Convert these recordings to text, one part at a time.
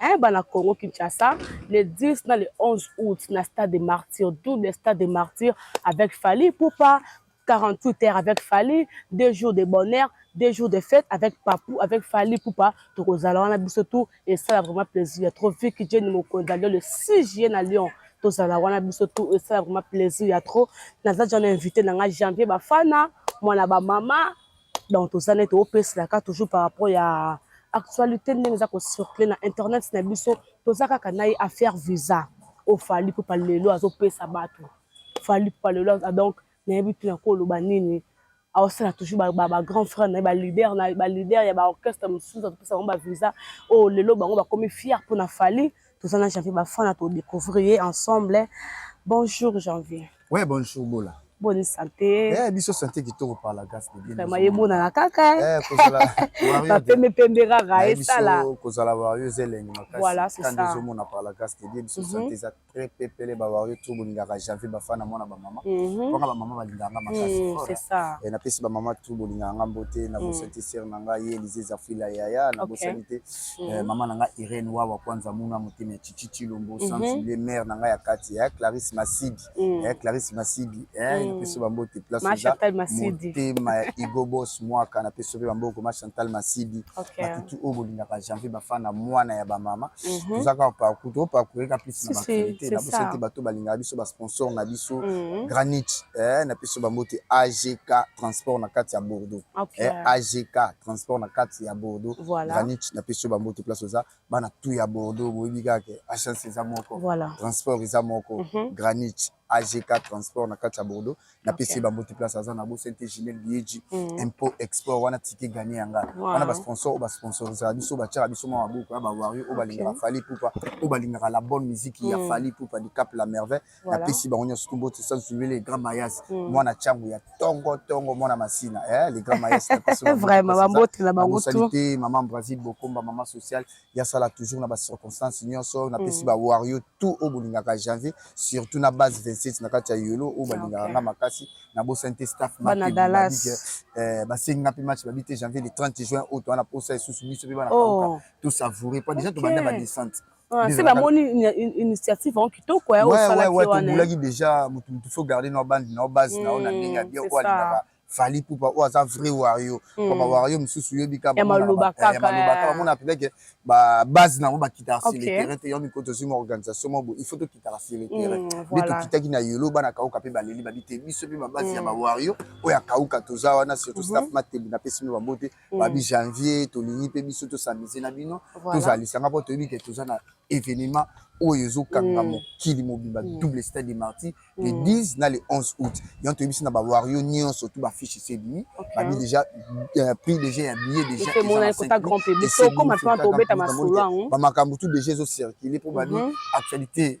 eh, bana Congo Kinshasa le 10 na le 11 août na stade de martyr double stade de martyr avec Fally Poupa 48 heures avec Fally deux jours de bonheur deux jours de fête avec Papou avec Fally Poupa tokozala wana biso tout et ça vraiment plaisir trop vu que Jenny Mokonzi alio le 6 juillet na Lyon tozala wana biso tout et ça vraiment plaisir ya trop naza jana invité na nga janvier bafana mwana bamama donc toza nde toopeselaka toujours par rapport ya actualité ndenge eza kocircule na internet na biso toza kaka na ye affaire visa oyo fali pupa lelo azopesa bato fali pupa lelo ah, donc nayebi te nakoloba nini aosala toujours bagrand frère na ye balider na balider ya baorchestre mosusu azopesa bango bavisa oyo oh, lelo bango bakomi fier mpo na fali toza na janvier bafana to découvrir ye ensemble bonjour janvier ouais bonjour bola boni sante eh, biso sante kitoko par la grâce de Dieu vraiment ebonaka kaka eh, eh. bapembe pembe kaka esala kozala wario eza elengi makasiande ezomona par la grâce de Dieu biso mhm. sante eza très pepele bawario to bolingaka janvier bafana mwana bamama mhm. wana bamama balingaka nga makasi mhm, napesi bamama tu bolingaka nga mbote nabosani te sere na ngai ye elize zafila yaya nabosani te mm -hmm. eh, mama na nga Irene Wawa Kwanza Muna Motema Chichi Chilombo mm -hmm. Sansule mère na nga ya kati eh, Clarisse Masidi mm -hmm. eh, Clarisse Masidi eh, mm -hmm. napesi bango te place oza motema ya Igo Boss Mwaka napesi pe bango koma Chantal Masidi okay. batutu oyo bolingaka janvier bafana mwana ya bamama mm -hmm. toza kaka parcours to parcours eka plus na bafinite na bosa te bato balingaka biso ba sponsor na biso mm -hmm. granit eh, napesi bango te AGK transport na kati ya Bordeaux okay. eh, AGK transport na kati ya bordeaux voilà. granit na pesi yo bambote place oza bana tu ya bordeaux boyebi kaka ke agence eza moko voilà. transport eza moko mm -hmm. granit agk transport na kati ya bordeaux na pesi okay. bambote place aza na bosente gimel bieji mm -hmm. impôt export wana tike gagne ya nga wow. wana basponsor oyo basponsorisaka biso batyaka biso mwa maboko ya bawario oyo balingaka okay. fali pupa oyo balingaka la bonne musique mm -hmm. ya fali pupa du cap la merveille voilà. napesi bango nyonso tout mbote sans oublier les grands mayas mm. mwana changu ya tongo tongo mwana masina eh, les grands mayas vraiment bambote na bango tout te maman Brasil bokomba maman sociale ya sala toujours na ba circonstances nyonso napesi mm. ba wario tout au bolingaka janvier surtout na base 27 na kati ya yolo oyo balingaka nga makasi nabosani te staff eh, basengi nga mpe match babi te janvier le 30 juin oyo towana posa esusu biso mpe bana oh. to savourer po déjà tobanda ba descente Ah, c'est la moni une initiative en kito quoi ouais ouais ouais tu voulais qui déjà mutu mutu faut garder nos bandes nos bases na on a bien ya bien quoi là fali poupa ou aza vrai wario hmm. papa wario mususu yo bika ba maloba eh, kaka maloba kaka mona peut que ba base na ba kita sur le terrain te yomi koto sur organisation mo il faut to kita sur le terrain hmm, mais to kita ki na yolo bana kauka pe baleli ba bite biso pe ba base ya ba hmm. wario oya kauka toza wana surtout staff mhm. matembi na pesi ba bote mm. babi janvier tolingi mpe biso tosamize na bino voilà. tozala lisanga mpo toyebi ke toza na événement oyo ezokanga mm. mokili mobimba mm. double stade de martyr mm. le 10 na le 11 août yango toyebisi na bawario nyonso tu bafiche esebii okay. babi déjà euh, prix déjà ya billet déjà bamakambo tu déjà ezocircule mpo babi mhm. actualité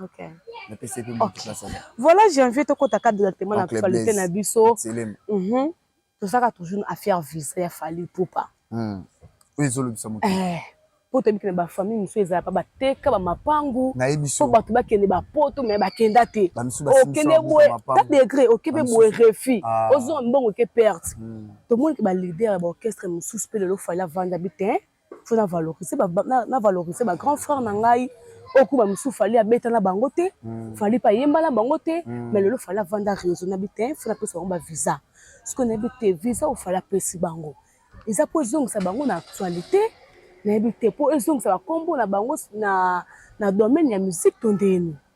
Okay. Okay. Voilà, j'ai envie de côté cadre de la témoin actualité na biso. Mhm. Tout ça toujours une affaire visa ya Fally Poupa. Hmm. Oui, zolo bisa mutu. Eh. Po to bikina ba famille musu ezala pa ba teka ba mapangu. Na ebiso. Po batu ba kende ba poto mais ba kenda te. Okende boye ta degré, okebe boye refi. Ah. Ozo mbongo ke perte. Hmm. To moni ke ba leader ba orchestre musu pe le lo Fally vanda biten. fo na valoriser ba, na, na valoriser ba grand frère na ngai okuba mosusu fali abeta na bango te mm. fali mpe ayemba na bango te mm. mais lelo fali avanda réseau nayebi te fo napesa bango bavisa soki nayebi te visa oyo fali apesi bango eza mpo ezongisa bango na actualité nayebi te mpo ezongisa bakombo na bango na, na domaine ya musique to ndeni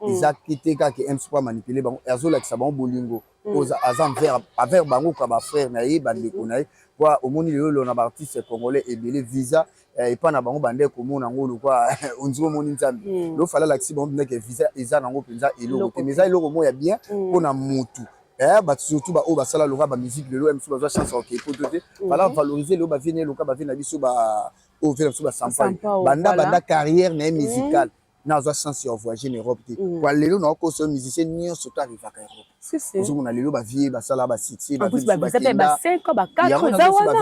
Mm. eza te te kaka mc mpo amanipule bango azolakisa bango bolingo mm. aza envers bango ka bafrère na ye bandeko na ye mpo omoni lelo lelo na baartiste congolais ebele visa eh, epai na bango bande komona yango lokwa ondiri omoni nzambe mm. lofala alakisi bango mpenza ke visa eza na yango mpenza eloko te mais eza eloko moko ya bien mpo na motu eh, bato surtout baoyo basala loka bamusike lelo msu bazwa chance ya kokei poto te bala mhm. valorize lelo bavie na ye loka bavie na biso baoyo vie na biso basampai banda banda carrière na ye musicale nazwa chance ya voyager na europe te mm. kwa lelo naokosa musicien nyonso to arrivaka europe ozomona lelo bavie basala basuccès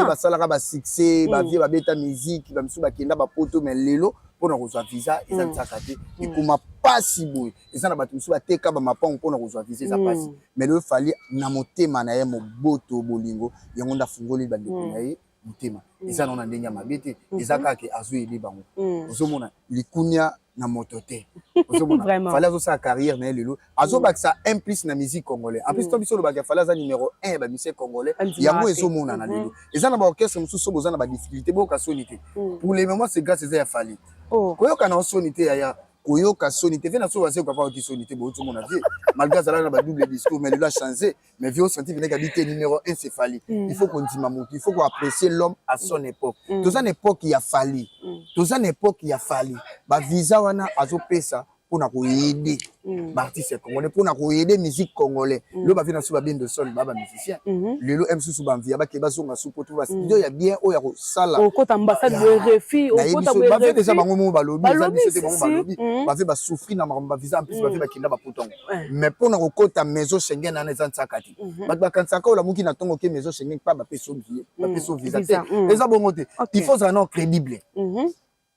basalaka basuccès mm. bavie babeta musike bamisusu bakenda bapoto mais lelo mpona kozwa visa eza mm. nzaka te ekoma mpasi boye eza na bato mosusu bateka bamapango mpona kozwa visa eza mpasi mais lelo fali na motema na ye moboto bolingo yango nde afungoli bandeko na ye motema mm. eza nao na ndenge ya mabe te mm-hmm. eza kaka ke azoyebe bango mm. ozomona likunia na moto te ozomona fale azosala carrière na ye lelo azobakisa un plus na musique congolais en plus to biso olobaka fale aza numéro 1 ya bamusicien congolais yango ezomonana lelo mm-hmm. eza na baorchestre mosusu boza na badifficulté boyoka soni te pour le moment c'est grâce eza ya fale oh. koyoka na osoni te yaya koyoka soni te ve na solo asekaka ayoki soni te boyoki omona vie malgré azalaka na badouble discours mais lelo achange mais vieux santi veneka bite numéro 1 c'est Fally mm. il faut qu'on dima mutu il faut qu'on apprécier l'homme à son mm. époque mm. toza na époque ya Fally mm. toza na époque ya Fally ba visa wana azopesa mpona koyede mm. baartiste ya congolais mpona koyede musique congolais mm. lelo bavie na biso babende sol ba bamusicien mm-hmm. lelo m susu bamvia bake bazonga su po tuba studio mm. ya bien oyo ya kosala okota ambassade boye refi okota boye refi bavie deja bango moko balobi eza biso te bango balobi mm. bavie basouffrir na makambo bavisa en plus bavie bakenda baputango mais mpo na kokota maison Schengen wana eza nsaka te mhm. bato bakanisaka olamuki na ntongo ke maison Schengen mpa bapesi obiye mm. bapesi ovisa te mm. eza bongo te il faut ozala nao crédible mhm.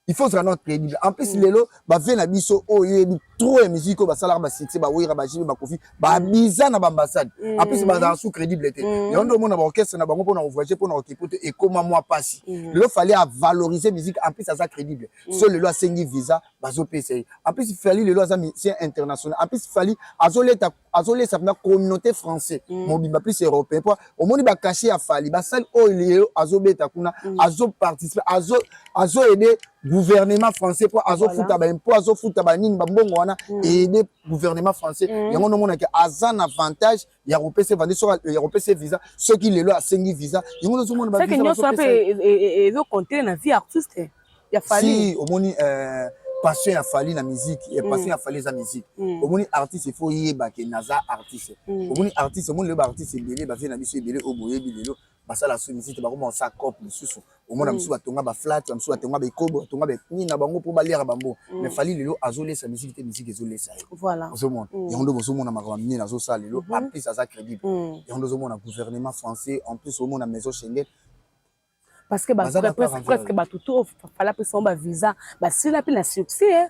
il faut ozala nao crédible en plus mm. lelo bavie na biso oyo oh, yebi trop ya musique oyo basalaka basuccès bawera bajibe bakofi babiza na baambassade en plus bazala sous crédible te yango nde omona baorchestre na bango mpo na kovoyage mpo na kokipo te ekoma mwa mpasi lelo fallait avaloriser musique en plus aza crédible so lelo asengi visa bazopesa ye en plus fali lelo aza musicien international en plus fali azoleta azolesa mpena communauté français mm. mobimba plus européen mpo omoni bacashe ya fali basali oyo oh, lelo azobeta kuna mm. azoparticipe azoaide azo gouvernement français mpo azofuta baimpo azofuta banini bambongo wana mm. aide gouvernement français mm. yango nomonake aza na avantage ya kopesa evandi soki ya kopesa visa soki lelo asengi visa yango nazomona ba visa nyonso mpe e, e, e, ezo compter na vie artiste ya Fally si omoni euh, passion ya Fally na musique et mm. passion ya Fally eza musique mm. omoni artiste il faut yeba ke naza artiste mm. omoni artiste omoni lelo ba artiste ebele ba vie na biso ebele oyo boyebi lelo basala su misite bakoma kosa cope mosusu omona misusu batonga baflate bamisusu batonga baekobo batonga nini na bango mpo baliaka bango mais fali lelo azolesa misiki te misiki ezolesa ye ozomona yango nde bozomona makambo minene azosala lelo en plus aza crédible yango nde ozomona gouvernement français en plus omona maison schengen parce que presque bato to fala mpe sango bavisa basila mpe na succès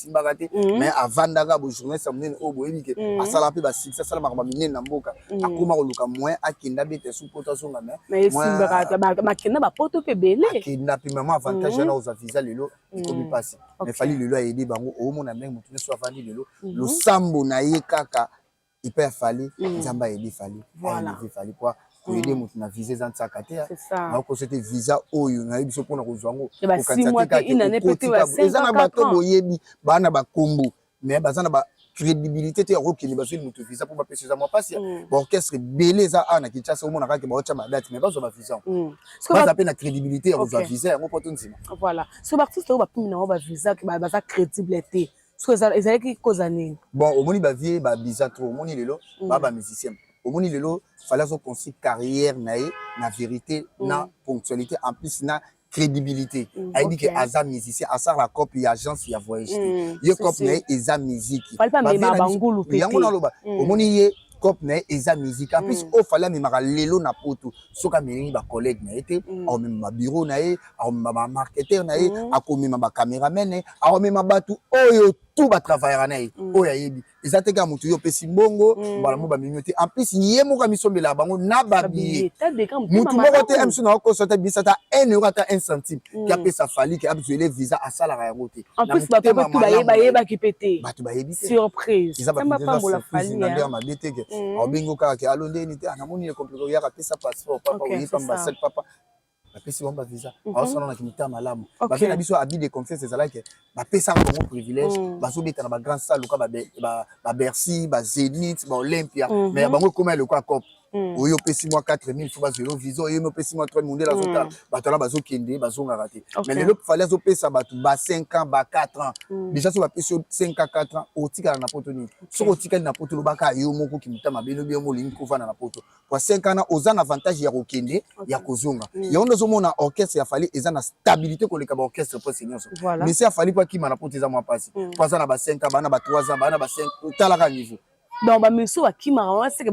asimbaka te mm. mais avandaka bojournaliste ya monene oyo boyebi ke mm. asalaka mpe basuccès asala makambo minene na mboka mm. akoma koluka moyen akenda bete su poto azonga maisbakenda bapoto mpe ebele akenda mpe mama avantage yana ozwa visa lelo ekomi mpasi mais fali lelo ayede bango omona ndenge motu nyonso avandi lelo losambo na ye kaka epai ya fali mm. nzambe ayebi fali ayebi fali po koyede mm. moto na visa eza nsaka te nakokosa te visa oyo nayebi biso mpona kozwa yango eza na bato boyebi baa na bakombo mais baza na ba crédibilité te yakokende bazweli moto visa mpo bapesa eza mwa mpasi mm. baorchestre ebele eza awa na kinshasa omona kaka baotya badate mais bazwa bavisa mm. baza mpe na crédibilité ya kozwa visa yango mpo tondima voilà so baartiste oyo bapimi nango bavisa baza crédible te ezalaki koza nini bon omoni bavie babiza trop omoni lelo mm. ba bamusicien omoni lelo fale azoconstruire carrière na ye na vérité mm. na ponctualité en plus na crédibilité mm, ayebi okay. ke aza musicien asala cope ya agence ya voyage te mm, ye cope na ye eza musique yango naloba mm. omoni ye mm. cope na ye eza musique en plus mm. oyo fali amemaka lelo na poto soki ameleli bacollègue na ye te mm. akomema babiro na ye akomema bamarketeur na ye mm. akomema bacameraman na ye akomema bato oyo tu batravaillaka na ye oyo ayebi eza te kaka moto yo opesi mbongo mbala mo bamemi yo te en plus ye moko amisombelaka bango na babiye motu moko te amiso na okoso ata bisa ata 1 euro ata 1 centime ke apesa fali ke abzuele visa asalaka yango te En plus, bah, papa, tout baye, baye, bah, qui pétait. Bah, tout baye, bité. Surprise. Ils avaient pas pour la famille. Ils avaient ma bité. En bingo, car, qui a l'ondé, n'était, à mon niveau, compliqué, il y a raté sa passeport, papa, oui, comme ma seule papa. bapesi bango bavisa aosala na kimita malamu bafe na biso abi de confiance ezalaki bapesaka bango privilège mm. bazobeta na bagrand salle loka babercy bazenit baolympia mais ya bango ekoma ya lokola cope Hmm. oyo opesi mwa 4000 fo bazwa yo visa oyo opesi mwa 3 mondele azotala hmm. bato wana bazokende bazongaka te mais lelo fali azopesa bato ba 5 ans ba 4 ans hmm. déjà so bapesi yo 5 ans 4 ans otikala na poto nini soki otikali na poto olobaka yo moko kimuta mabe lobi yango olingi kovanda na poto po 5 ans oza na avantage ya kokende ya kozonga yango nde ozomona orchestre ya fali eza na stabilité koleka baorchestre presse nyonso mais si afali po akima na poto eza mwa mpasi po aza na ba 5 ans bana ba 3 ans bana ba 5 otalaka niveau donc ba misu ba kimaka wana seke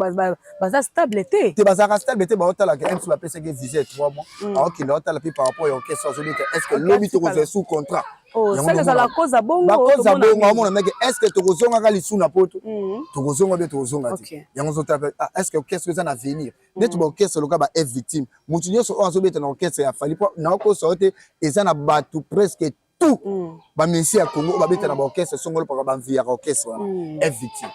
baza stable te te bazalaka stable te baotala ke mc bapesaki visa ya 3 mois mm. aokende aotala mpe par rapport ya orchestre azobi te est ce que lobi tokozwa sous contrat oh, bakoza bongo amona meke est ce que tokozongaka lisu na poto mm. tokozonga mpe tokozonga te yango ozotala mpe ah, est ce que orchestre eza na avenir mm. neti baorchestre loka ba f victime motu nyonso oyo azobeta na orchestre ya fali mpo naokosa yo te eza na bato presque tout mm. ba musiciens ya Congo ba beta na ba orchestre songolo paka ba mvi ya orchestre wana mm. FVT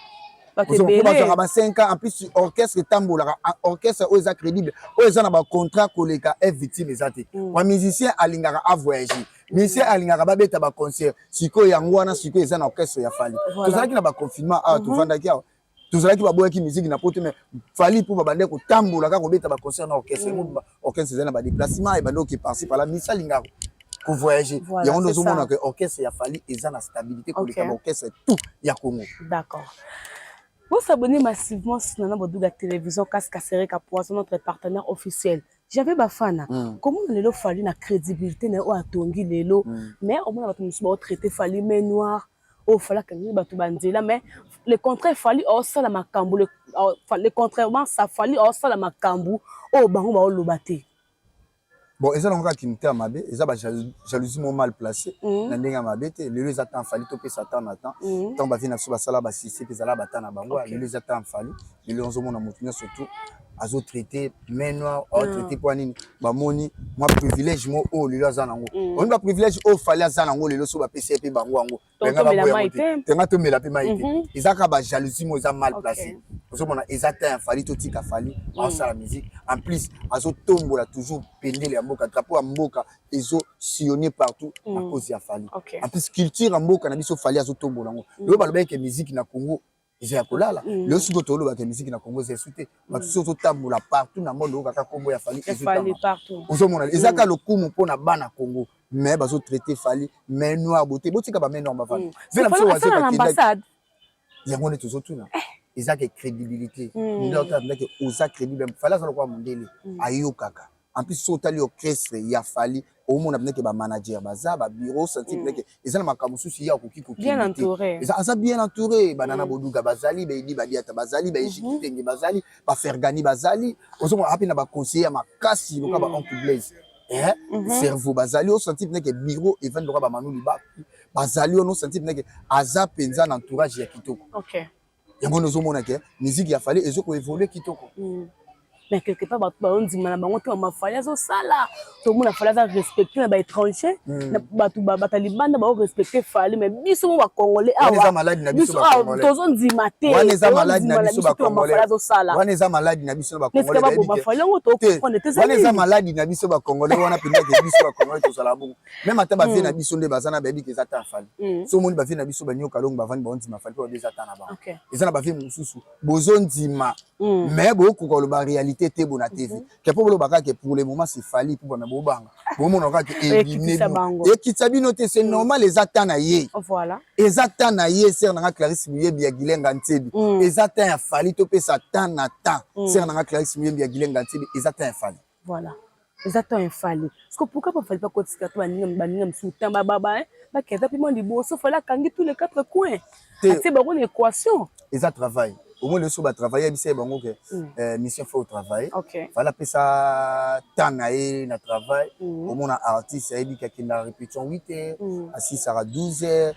bazwaka ba 5 ans en plus orchestre etambolaka orchestre oyo eza crédible oyo eza na ba contrat koleka FVT eza te mm. ba musicien alingaka a voyager musicien mm. alingaka babeta ba concert sikoyo yango wana sikoyo eza na orchestre ya Fally tozalaki na ba confinement awa mm-hmm. tofandaki awa tozalaki baboyaki miziki na poto me fali mpo babandai kotambola kaka kobeta baconcert na orchestre yango mm. orchestre ezali na badeplacement ebandi oke parci pala misali nga kovoyage yango nde ozomona ke orchestre ya fali eza na stabilité koleka baorchestre tout ya congo d'accord Vous s'abonnez massivement sur Nana Bodouga Télévision, Casque Sereka Poisson, notre partenaire officiel. J'avais Bafana. Mm. Comment on a fallu la crédibilité, on a tongi l'élo, mm. mais on a traité fallu mais noir. oyo fali akangeli bato banzela mais le contraire fali aosala makambo le contrairement sa fali aosala makambo oyo bango baoloba te bon eza nango kaka kimita ya mabe eza ba jalousie mo mal placé mhm. na ndenge ya mabe te lelo eza temps fali topesa temps na temps mhm. ntango bavie na biso basala basisi mpe ezala bata na bango lelo eza temps fali lelo ozomona moto nyonso tout azo traite main noire azo ah. traite mpo nini bamoni mwa privilège mo oyo oh, lelo aza nango mm. oni baprivilège oyo oh, fali aza nango lelo so bapesi ye mpe bango yango benga baboya te tenga tomela mpe mai te mhm. eza kaka bajalousie mo eza mal placé ozomona eza ta ya fali totika fali mm. aosala musique en plus azotombola toujours pendele ya mboka drapeau ya mboka ezo sillonne partout mm. na cause ya fali en plus culture ya mboka na biso fali azotombola yango lelo balobaki ke musique na congo eza ya kolala mm. lelo sikoyo toloba ke miziki na congo eza esu te mm. bato soki ozotambola partout na monde oyokaka nkombo ya fali ozomona eza kaka mm. lokumu mpo na bana congo mais bazotraite fali mai noir bote botika bamai noir bavanda ve na biso wazebakendaki yango nde tozotuna eh. eza ke crédibilité ndenge otalaka ndake oza crédible fali aza lokola mondele ayokaka en plus soki otali orchestre ya fali omona mpenza ke bamanager baza babiro santi mpenza ke mm. eza na makambo mosusu ye akoki kokenda aza bien entouré banana mm. boduga bazali baedi badiata bazali baejikitenge mm-hmm. bazali bafergani bazali ozomona ape na baconseiller ya makasi loka ba mm. oncle blaise eh, mm-hmm. cerveau bazali osanti mpenza ke biro evandi loka bamanu libaku bazali ono santi mpenza ke aza mpenza na entourage ya kitoko yango nde ozomona ke musique ya fale ezo koevolue kitoko mm. mais quelque part bato baondima na bango te bamafali azosala tomona fali aza respecte na baétranger mm. bato bata libanda bao respecte fali mais biso mo bacongolais awabiso awa tozondima tewana eza maladi na biso bacongolais azosala wana eza maladi na biso bacongolais yango tokoprendre te wana eza maladi na biso bacongolais wana mpendake biso bacongolais tozala bongo meme ata bavie na biso nde baza na bayebi ke eza ta ya fali mm. so omoni bavie na biso banyoka longo bavandi baondima fali mpo babi eza ta na bango eza na bavie mosusu bozondima mm. mais bokoka koloba réalité te bona tv mhm. ke mpo boloba kaka ke pour le moment se fali mpo bana bobanga bomona kaka ke ekitisa bino te c'est mm. normal eza ta na ye eza ta na ye ser nanga clarisse moyebi ya gilenga nsebi eza ta ya fali topesa ta na ta ser nanga clarisse moyebi ya gilenga nsebi eza ta ya fali Voilà. eza temps ya fali parceque pourquoi pa fali bakotisaka to baninga baninga mosusu temps bababa eh, bakenda mpe mwa liboso fali akangi tous les quatre coins atie bango na équation eza travail omoi leso batravaille yebisa ye bango ke mm. eh, mission fo travaille fali apesa temps na ye na travail mm. omona artiste ayebi kakenda répétition 8 heures mm. asisaka 12 heures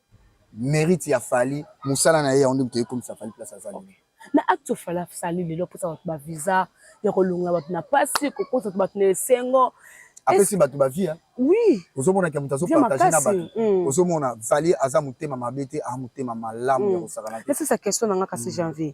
merite ya Fally musala na ye yango nde moto ekomisa Fally place aza lelo na acte ofali asali lelo apesa bato bavisa ya kolongola bato na mpasi kokosa bato bato na esengo apesi bato bavia oui ozomonaka moto azopartage na bato mm. ozomona vali aza motema mabe te a motema malamu ya mm. kosakana te nasisa question na nga kasi mm. janvier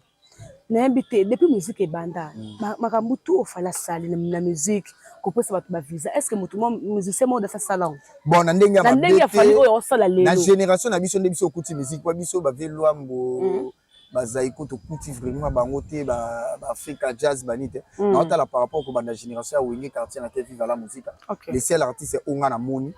nayebi te depuis musique ebanda mm. makambo tout ofala asali na musique kopesa bato bavisa est ce que moto musicien moko dasi asala yango bon na ndenge na ndenge ya fali oyo osala lelo na génération na biso nde biso okuti musique mpo biso bave lwambo mm. bazaiko tokuti vraiment bango te baafrika jazz bani te mm. naotala par rapport kobanda génération ya wenge quartier na te viva la musica le seul artiste onga na moni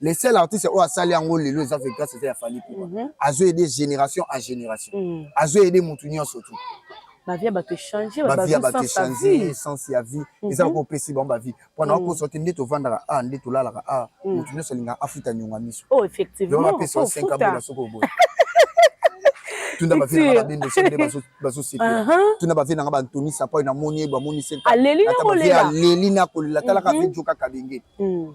le seul artiste oyo asali yango lelo eza ve grâce eza ya fali kuba mm -hmm. azo aide génération à génération mm -hmm. azo aide motu nyonso tu bavi ya bato echange bavi ya bato echange sens ya vie mhm. eza lokola opesi bango bavie mpo na okosa mhm. te nde tovandaka a ah, nde tolalaka a ah, mhm. motu nyonso alingaka afuta nyonga miso oh, effectivement apesa 5 abola soko oboya tuna bavie nanga babendo so nde bazosepela tuna bavie nanga bantoni sapai namoni ye bamoni senkaleli nakolela talaka mhm. vejo kaka benge mm.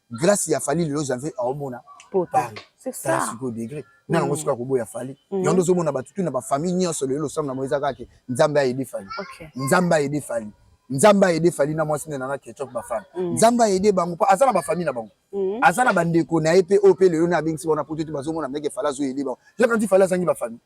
grâce ya fali lelo janvier aomona sikoyo degre na yango soki akoboya fali mm. yango ozomona bato tu na bafamille nyonso lelo losambo na mo eza kaka ke nzambe ayede fali nzambe ayede fali nzambe ayede fali na mwasi nde nanga ketchop bafana mm. nzambe ayede bango mpo aza na bafamille na bango mm. aza na bandeko na ye mpe oyo mpe lelo na abengisi bango na poto te bazomona meke fali azoyede bango yaka nti fali azangi bafamille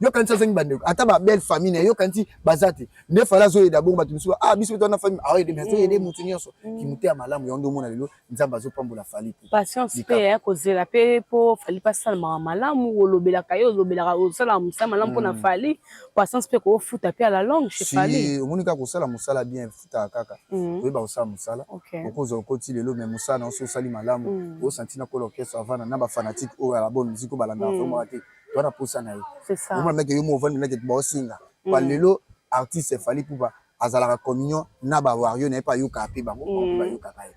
yo kanisa azangi ba ndeko ata ba belle famille na yo kanisi baza te nde fala azo yeda bongo bato misusu ah biso tona famille ah yede mais azo yede mutu nyonso mm. ki muteya malamu yango ndomona lelo nzambe azo pambola fali te patience pe ya kozela pe po fali pa sala mawa malamu olobela kayo olobela ka osala musala malamu pona mm. fali patience pe ko futa pe ala longue chez fali si omoni ka kosala musala bien futa kaka mm. oyeba kosala musala okozo okoti lelo mais musala na oso osali malamu osantina kola orchestre avana na ba fanatique oyo ala bonne musique obalanda vraiment te to na posa na ye omona meke yo mo ovandi na ketu baosinga pa mm. lelo artiste fali pupa azalaka communion na ba wario na ye mpe ayokaka mpe bango mm. bayokaka ye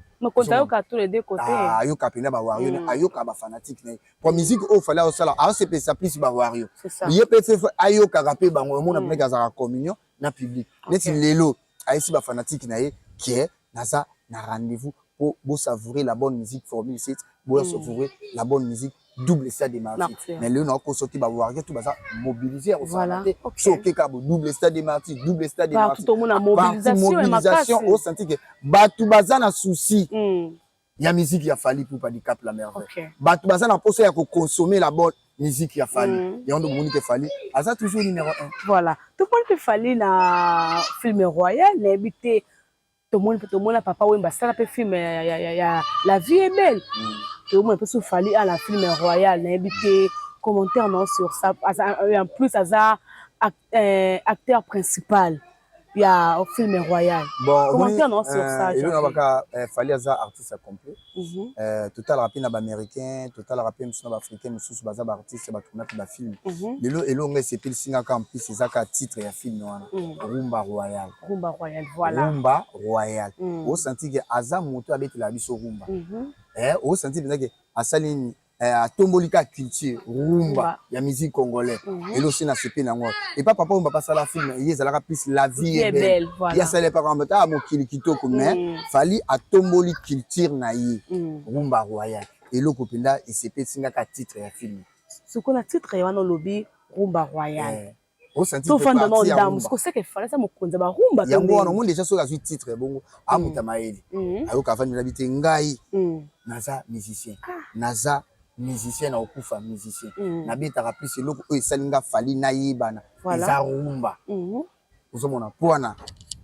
ah, ayoka mpenza bawario mm. ayoka bafanatique na ye po musike oyo fali aosala aosepelisa plus bawario ye mpe ayokaka mpe bango omona meke azalaka communion na public okay. neti lelo ayesi ba fanatique na ye que naza na rendez-vous pour bo savourer la bonne musique formule 7 bo mm. savourer la bonne musique double stade de martyr mais lelo na ko soki ba warrior tout baza mobiliser au voilà. okay. so ke ka bo double stade de martyr double stade de martyr tout le monde mobilisation mobilisation au senti que batu baza na souci mm. ya musique ya Fally Ipupa du Cap la Merveille. Okay. Bato baza na posa ya ko consommer la bonne musique ya Fally. Mm. Yango ndio bomoni ke Fally aza toujours numéro 1. Voilà. Tout le monde peut Fally na film royal na habité tomoni mpe tomona papa wemba asala mpe film ya, ya, ya, ya la vie est belle mm. tomona mpe sofali a na film royal nayebi te commentaire nao sur ça en plus aza euh, acteur principal ya film royal bon commentaire non sur ça euh, elona baka euh, fali aza artiste ya complet mhm. euh, totalaka mpe na baaméricain totalaka mpe mosusu na baafricain mosusu baza baartiste batuna mpe bafilme mhm. lelo elonga esepelisingaka en plus ezaka titre ya filme wana mhm. rumba royal rumba royal voilà rumba royal osanti ke aza moto abetela biso rumba osanti eh, mpenza ke asali nini eh, atomboli ka culture rumba ya musique congolais mhm. elo si nasepeli yango epa papa oyo bapasala film eye ezalaka plus la vie est belle ye asala epa kamba ta mokili kitoko mais mhm. fali atomboli culture na ye mhm. rumba royal eloko mpenza esepelisi nga ka titre ya film sikoyo na titre ye wana olobi rumba royal eh. tofanda na ndambo sikoseke falasa mokonzi ya barumba yango wana omoni deja soki azwi titre bongo amuta mm. mayele mm. ayoka afandi na bi te ngai mm. naza musicien ah. naza musicien nakokufa musicien nabetaka plus eloko oyo esali nga fali nayebana eza rumba mm-hmm. ozomona mpo wana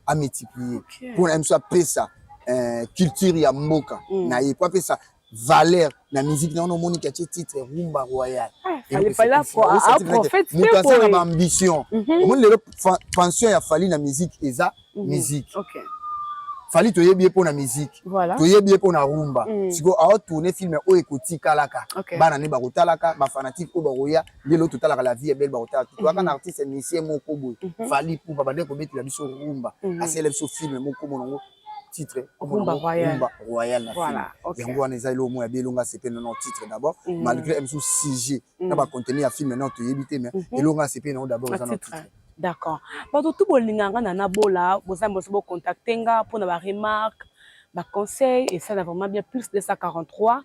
amultiplier mpo na ye mosu apesa eh, culture ya mboka na ye mpo apesa valeur na musique na wana omoni ke atie titre rumba royal moto aza na baambition mhm. omoni lelo pension ya fali na musique eza mhm. musique fali toyebi ye mpo na musique toyebi ye mpo na rumba mhm. sikoyo aotourne film oyo ekotikalaka bana nde bakotalaka bafanatike oyo bakoya lelo totalaka la vie ya bele bakotala totoyaka na artiste musicien moko boye fali pupa bande kobetela biso rumba asele biso film moko monango titre rumba royal rumba royal na film yango wana eza eloko moko ya bielo nga sepe na titre d'abord mm. malgré msu sujet mm. na ba contenu ya film non toyebi te mais mm-hmm. eloko nga sepe na d'abord eza na titre d'accord bato tu bolinga nga na nabola boza boso bo contacter nga mpo na ba remarque ba conseil esala vraiment bien plus 243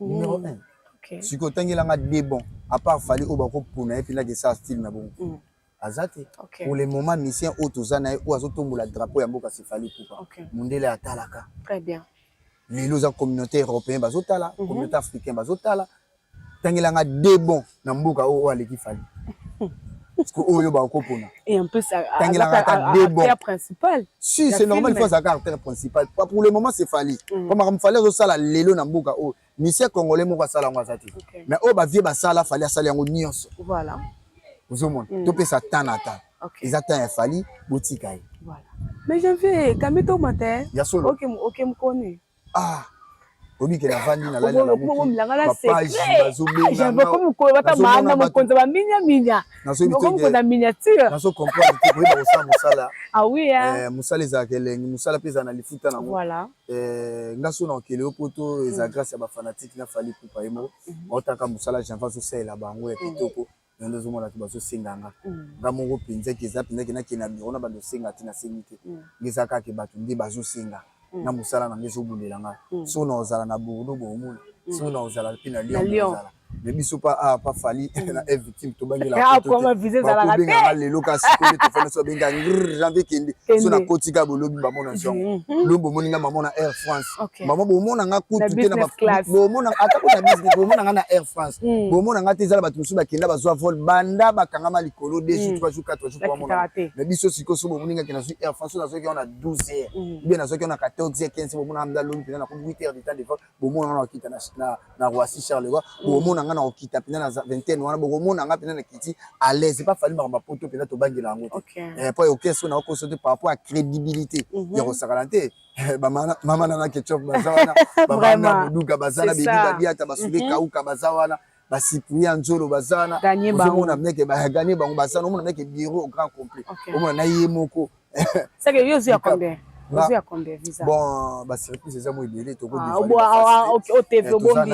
numéro 1 okay. soki otangela nga de bon à part fali oyo bakopona ye mpena kesa style na bongo mm. aza te okay. pour le moment misien oyo toza na ye oyo azotombola drapeau ya mboka sefali pupa okay. mondele atalaka très bien lelo oza communauté européen bazotala mm -hmm. communauté africain bazotala tangela nga de bon na mboka oyo oyo aleki fali parceque oyo bakopona tangelaka ata debon principal si c'est normal il faut azalaka artère principal pour le moment c'est fali mm. po makambo fali azosala lelo na mboka oyo misie congolais moko asala yango aza te mais oyo bavie basala fali asala yango nyonso ozomona mm. topesa temps na temps eza temps ya fali botika ye mais janvier kambi tomata ya solo oke mokoni ah oyebi ke navandi nalali na mokilbazobengaokomokolobatamana mokonzi ya baminyaminya okomokonza miniature nazo comprendre te koyeba kosala mosala awia ah eh, mosala ezalaka elengi mosala mpe ezala na lifuta nango eh, nga so na okele yo poto eza mm. grâce ya bafanatike na fali kupa ye moko baotaka mm-hmm. mosala janva azosalela bango ya mm. kitoko yango ozomona bato bazosenga nga mm. nga moko mpenza ke eza mpenza ke nakende na biro na bando osenga te nasengi te mm. ngeza kaka ke bato nde bazosenga mm. na mosala na nga ezobulela nga so na ozala na bordeaux bokomona so na ozala mpe na lyon ozala me biso pa a ah, pa fali na e victime tobangelabakobenganga ah, lelo kasi koye tofandi so abenga janvier kende so nakotika bolobi bamona zongo lobi bomoni nga mamona air france okay. mama bomona nga kutu te na bomona ata ko na business bomona nga na Air France mm. bomona nga te ezala bato mosusu bakenda bazwa vol banda bakangama likolo 2 jours 3 jours 4 jours kwa mona mais biso siko so bomoni nga ke nazwi Air France na zoki na 12 heures mm. bien na zoki na 14 heures 15 bomona nga loni pena na ko 8 heures de temps de vol bomona nga na kita na na na Roissy Charleroi mm. bomona nga na ko kita pena na vingtaine wana bomona nga pena na kiti à l'aise pas fallu makambo poto pena to bangela yango te eh po yo keso na ko so te par rapport à crédibilité mm-hmm. ya ko sakala te Eh, mama nana ketchup baza wana babana boduga baza na bebi badiata basule mhm. kauka baza wana basipuli ya nzolo baza wana ozomona meke baganye bango baza wana omona meke biro au grand complet omona na ye moko bon basurprise eza mo ebele tokobisope ah, ah,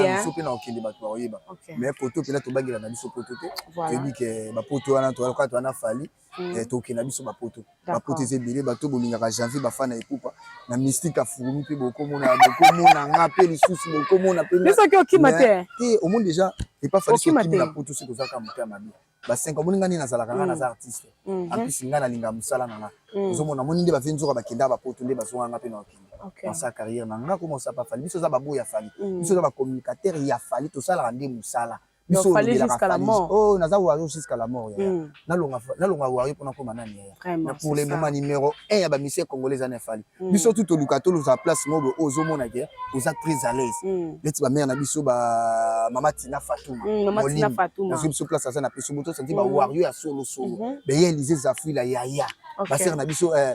eh, na okende bato bakoyeba mais poto mpena tobangela na biso poto te toyebi ke bapoto wana toyalokaka to wana fali mm. eh, tokende na biso bapoto bapoto eza ebele bato bolingaka janvier bafa na epupa na mystique afurumi mpe bokomona bokomona nga mpe lisusu bokomona mpesoki okima te te omoni déjà epafaliokimi na poto soki ozalaka moto ya mabe basenka omoni nga nde nazalaka nga mm. naza artiste mhm. ampisi nga nalinga mosala na nga mm. ozomona moni nde bafe nzoka bakenda bapoto nde bazonga nga mpe na bakende ansa carrière na nga koma osapa fali biso oza baboya fali mm. biso oza bacommunicateur ya fali tosalaka nde mosala biso olobelaka Fally oh naza Wario jusqu'à la mort yaya mm. nalonga nalonga Wario pona koma nani yaya na pour le moment numéro 1 ya ba musiciens congolais za na Fally mm. biso tout oluka to loza place mobo ozo mona ke oza très à l'aise mm. leti ba mère na biso ba mama Tina Fatuma mama Tina Fatuma na biso place za na biso moto santi ba Wario ya solo solo mhm. be yelize zafuila yaya ba sœur na biso euh,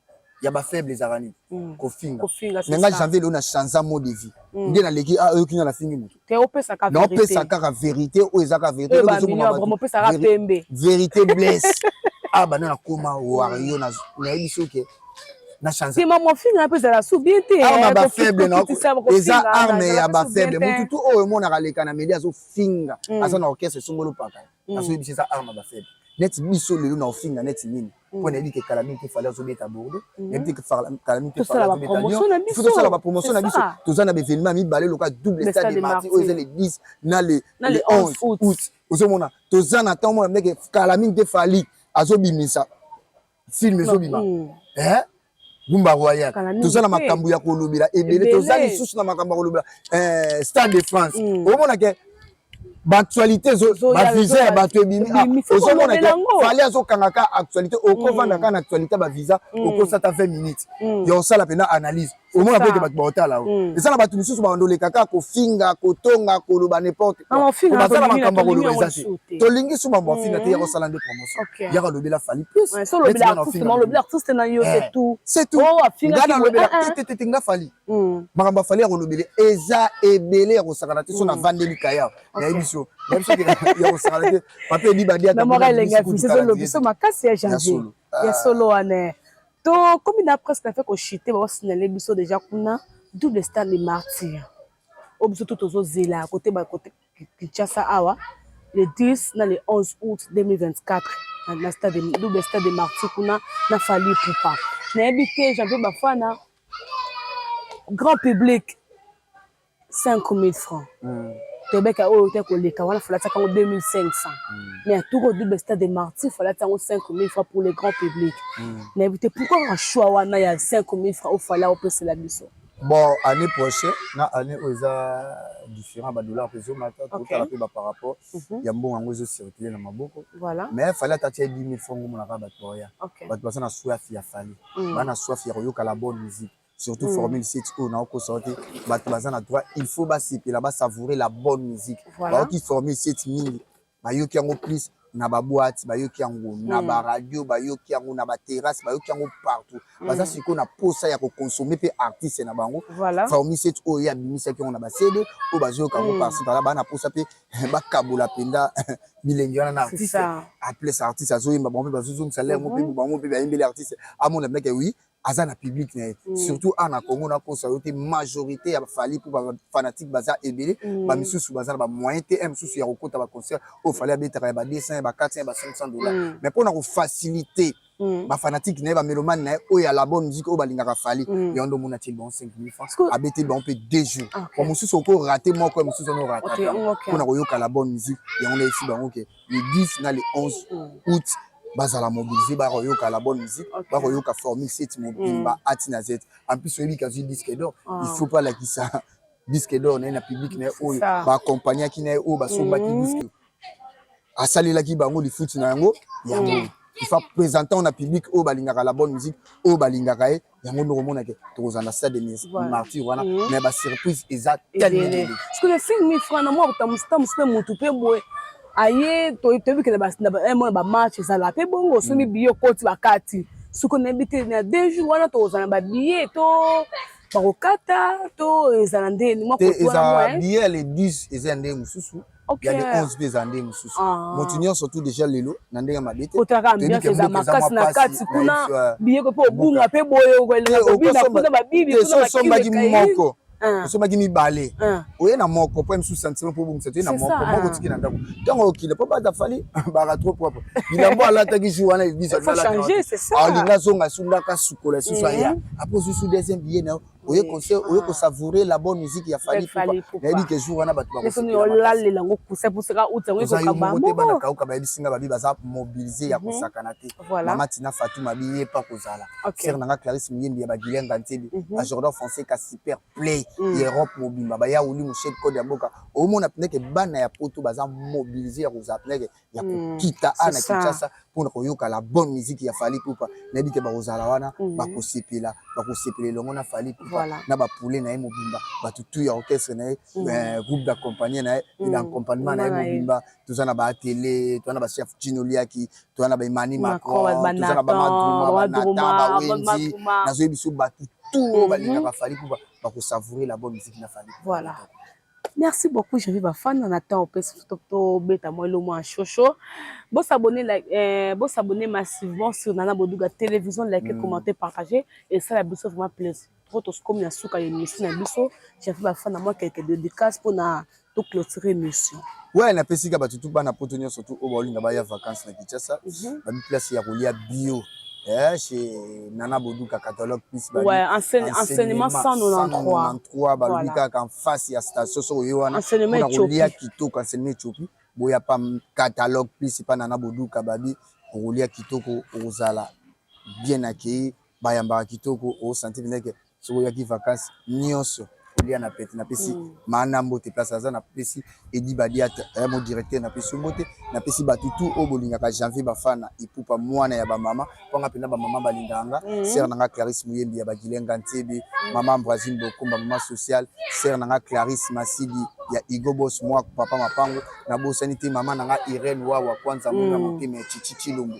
ya ba faible ezalaka nini mm. kofinga mais nga janvier leo na change mot de vie mm. nde naleki ah, oyoki nga nafingi motu naopesa kaka verité oyo eza kaka verité verité blesse ah bana nakoma wario nayebi so ke nasema mofinga mpe ezala su bien te ah, eh, bafaible eza arme ya bafaible motu tu oyo emonaka leka na meli azofinga mm. aza na orchestre esongoli opaka mm. nasoki biso eza arme ba faible neti biso lelo na ofinga neti nini mm. mpo nayebi ke kala mingi te fale azobeta bordeaux mm. nayebi te kala mingi te fale azobeta lyon fo tosala bapromotion na biso toza na baevenement mibale lokola double stade de marti oyo eza le 10 na le 11 août ozomona toza na ntango mona ndeke kala mingi te fali azobimisa film ezobima eh? Gumba Royal. Toza na makambo ya kolobela ebele, toza lisusu na makambo ya kolobela eh, Stade de France. Mm. Omona ke baactualité bavisa ya bato ebimi ah, ozomona te fali azokanga ka actualité okovanda mm. ka na actualité bavisa mm. okosa ta 20 minutes mm. ya osala mpena analyse omona mpe ete bato baotala yango eza na bato mosusu baondoleka kaka kofinga kotonga koloba n'importe ah, baza na makambo ya koloba eza te tolingi su mambo afinga te ya kosala nde promotion okay. yaka lobela fali plus ouais, so lobela artiste ma lobela artiste na yo c'est eh, tout c'est tout oh afinga ngana lobela ah, ah. te te te nga fali hmm. makambo fali yako lobela eza ebele yako sakana te so na hmm. vandeli kaya na emission na biso ke yako sakana te papier di badia na mora lenga fi c'est lobi so makasi ya janvier ya solo wana to comme na presque na fait ko chiter ba signaler biso déjà kuna double star de martyr oyo biso to tozozela kote Kinshasa awa le 10 na le 11 août 2024 na stade double stade de martyr kuna na fali pupa nayebi te jean mpe bafana grand public 5000 francs mm. tobeka oyo te koleka wana falataka yango 2500 mm. mais atoko double stade de martyr falati yango 5000 francs pour le grand public mm. nayebi te pourquoi kaka choix wana ya 5000 francs ofala opesela biso bon année prochaine na année oyo eza différent badollar mpe ezomata totala mpe bapar rapport mhm. ya mbongo yango ezocircule na maboko mais fali ata tia 10 000 franc omonaka bato baya bato baza na soif ya fali mm. baa na soif ya koyoka la bonne musique surtout mm. formule sit oyo naokosa yo te bato baza na droit il faut basepela basavourer la bonne musique baoki formule sit mingi bayoki yango plus na baboite bayoki yango na hmm. baradio bayoki yango na baterrasse bayoki yango partout hmm. baza sikoyo na posa ya kokonsome mpe artiste na bango formiset oyo ye abimisaki yango na basede oyo bazoyoka yango hmm. parci pala baa na posa mpe bakabola mpenza bilengi wana na artiste aples artiste azoyemba bango mpe bazozongisa ler ngo mpe bango mpe bayembeli artiste amona meke wi aza na public na ye mm. surtout awa na congo nakosa yo te majorité ya bafali mpo bafanatique baza ebele mm. bamisusu baza na bamoyen te e mosusu ya kokota baconcert oyo fali abetaka ya ba 200 ya ba 400 ya ba 500 dollar mm. mais mpo na kofacilite Mm. bafanatike na ye bamelomane na ye oyo ya la bonne musique oyo balingaka fali mm. yango nde omona ti bango 5000 francs abeteli bango mpe deux jours okay. mosusu okorate moko ya mosusu ono orate mpo na koyoka la bonne musique yango nde esi bango ke le 10 na le 11 mm. août bazala mobilise bakoyoka la bonne musique okay. bakoyoka formule set mobimba mm. ati na z en plus oyebi kazwi disque d'or ah. il faut pas lakisa disque d'or na ye na public na ye oyo baakompagnaki na ye oyo basombaki mm. disque asalelaki bango lifuti na yango yango mm. ifa présentant na public oyo balingaka la bonne musique oyo balingaka ye yango noko mona ke tokozala na stade de martyr wana mhm. mais ba surprise eza tellement parce que le film mi frana moi otamusi tamusi pe mutu pe boye aye toyebi kele mona ba match ezala pe bongo osombi mhm. biyo koti bakati soki onayebi te na deux jours wana tokozala na ba billet to bakokata to ezala nde te ezala billet ya le 10 eza ya ndenge mosusu ya le 11 mpe ezala ndenge mosusu ah. moto nyonso tu déjà lelo na ndenge mabe te otaka ambiance eza makasi na kati kuna biyeko mpe obunga mpe boye okoelela kobina kuna babibi kuna basombaki moko ah. osombaki mibale ah. oye na moko mpo mosusu sentiment mpo obongisa te na moko moko otiki na ndako ntango okila mpo bata fali baka trop propre bilambo alataki jour wana elisa alinga azonga asundaka sukola lisusu aya eh. apres osusu deuxième billet na yo oye conseil oye ko savourer la bonne musique ya Fally Ipupa nayebi ke jour wana bato bakolalela yango kusa pusaka uti yango ekoka bango te bana kauka bayebisi nga babi baza mobiliser ya mhm. kosakana te mama Tina Fatou mabi ye pa kozala sœur nanga Clarisse Muyembi ya bagilenga ntebi mhm. ba Jordan français ka super play mhm. ya Europe mobimba ba yauli mushel code ya boka omona pineke bana ya poto baza mobiliser ya kozala pineke ya hmm, kokita mm, ana kinshasa mpona koyoka la bonne musique ya fali pupa nayebi te bakozala wana mm -hmm. bakosepela bakosepela elongo na fali pupa voilà. na bapule na ye mobimba bato tu ya orchestre na ye mm -hmm. eh, groupe d'accompagne na ye mm -hmm. na accompagnement na ye mobimba toza na baatele toza na bachef chino liaki toza na baemani macron toza na bamadruma banata bawenzi nazoyebi biso bato tu oyo balingaka fali pupa bakosavoure la bonne musique na fali voilà. Merci beaucoup, je vais ba fan en attend au pesi to to beta moi le moins chocho. Bo s'abonner like euh, bo s'abonner massivement sur Nana Boduga télévision, liker, mm. commenter, partager et ça la biso vraiment plaisir. Trop tous comme na suka ye mission na biso, je vais ba fan moi quelques dédicaces pour na to clôturer mission. Ouais, na pesi ka batutu bana poto nyo surtout au bowling ba ya vacances na Kinshasa. Mm -hmm. Ba place ya kolia bio. eh, chez Nana Boduka catalogue plus ba ouais, enseigne, enseignement 193 balobi kaka en face ya station soko yo wana mpona kolia kitoko enseignement etiopi boya pa catalogue plus pa Nana Boduka babi okolia kitoko okozala bien accueilli bayambaka kitoko osanti mpenza ke soki oyaki vacances nyonso olia na pete napesi mm. maana mbote place aza napesi edi badiate eh, mo directeur napesi mbote napesi bato tu oyo bolingaka janvier bafana ipupa mwana ya bamama mpanga mpena bamama balingaka nga mm. sere na nga clarisse moyembi ya bagilenga ntebe mm. mama ambrasine bokumba mama sociale sere na nga clarisse masidi ya igobos mwa papa mapango nabosani te mama na nga irene wawa kwanza mona motema ya chichi chilombo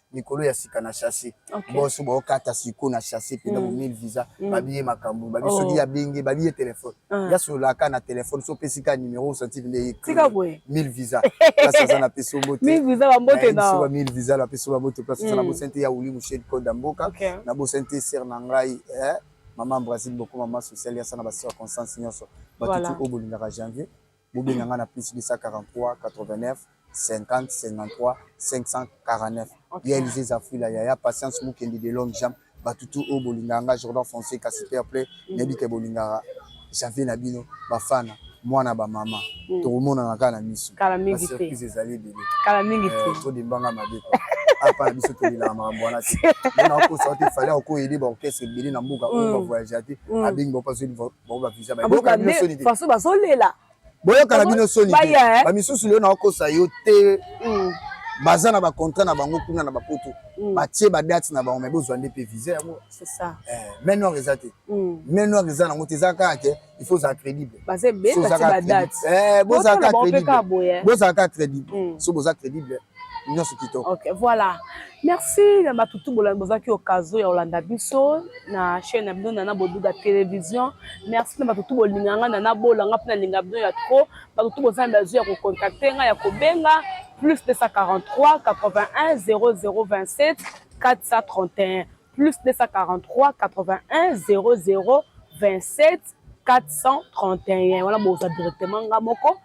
likolo ya sika na chasse okay. boso baokata siko na chasse pena mm. bomil visa mm. babiye makambo babi oh. soki ya benge babiye telefone ah. ya solaka na telefone so opesi ka numero osanti nde ye tika boye mil visa place aza na peso mbote mil visa ba mbote na ba mil visa la peso ba mbote place aza na mm. bosente ya wuli mushedi konda mboka okay. na bosente ser na ngai eh maman Brazil boko maman sociale ya sana ba circonstances nyonso batutu voilà. obolingaka janvier bobenga nga na plus 243 89 50 53 549 okay. ya elise zafuila yaya patience mukendi de l'homme jam batutu oyo bolingaka nga jordan fonseca super play mm. nayebi ke bolingaka janvier na bino bafana mwana bamama mm. tokomonana kaka na miso surprise ezali ebele eh, todimbanga mabe apa na biso tolelaka makambo wana te nakosa te fale akoyede baorchestre ebele na mboka oyo mm. bavoyage te mm. abengi bapaso bango ba visa bayoka bino soni te façon bazolela boyoka na bino soni te eh? ba misusu leo na okosa yo te mm. baza na ba contrat na bango kuna na bapoto mm. batie ba date na bango mais bozwa nde pe visa yango c'est ça eh mais noir eza te mm. mais noir eza nango te eza kaka te il faut za crédible baza be batie ba date eh boza ka crédible boza ka crédible so boza crédible nyonso kitoko ok voilà merci na batutu bolandi bozalaki okazo ya kolanda biso na chaîne na bino nana boduga télévision merci na batutu bolinga nga nana bola nga mpe nalinga bino ya trop batutu boza na bazo ya kocontacte nga ya kobenga plus 243 81 0027 431 plus 243 81 00 27 431 wana bozwa directement nga moko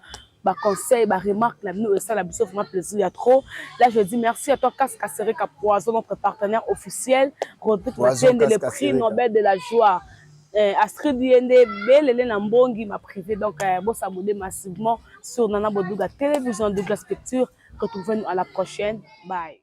ba conseils ba remarques na bino esala biso vraiment plaisir ya trop là je dis merci à toi Kaska Sereka Poison notre partenaire officiel Rodrigue Matende le prix Nobel de la joie euh, Astrid Yende belele na mbongi ma privée donc euh, bo s'abonner massivement sur Nana Boduga télévision Douglas Picture retrouvez-nous à la prochaine bye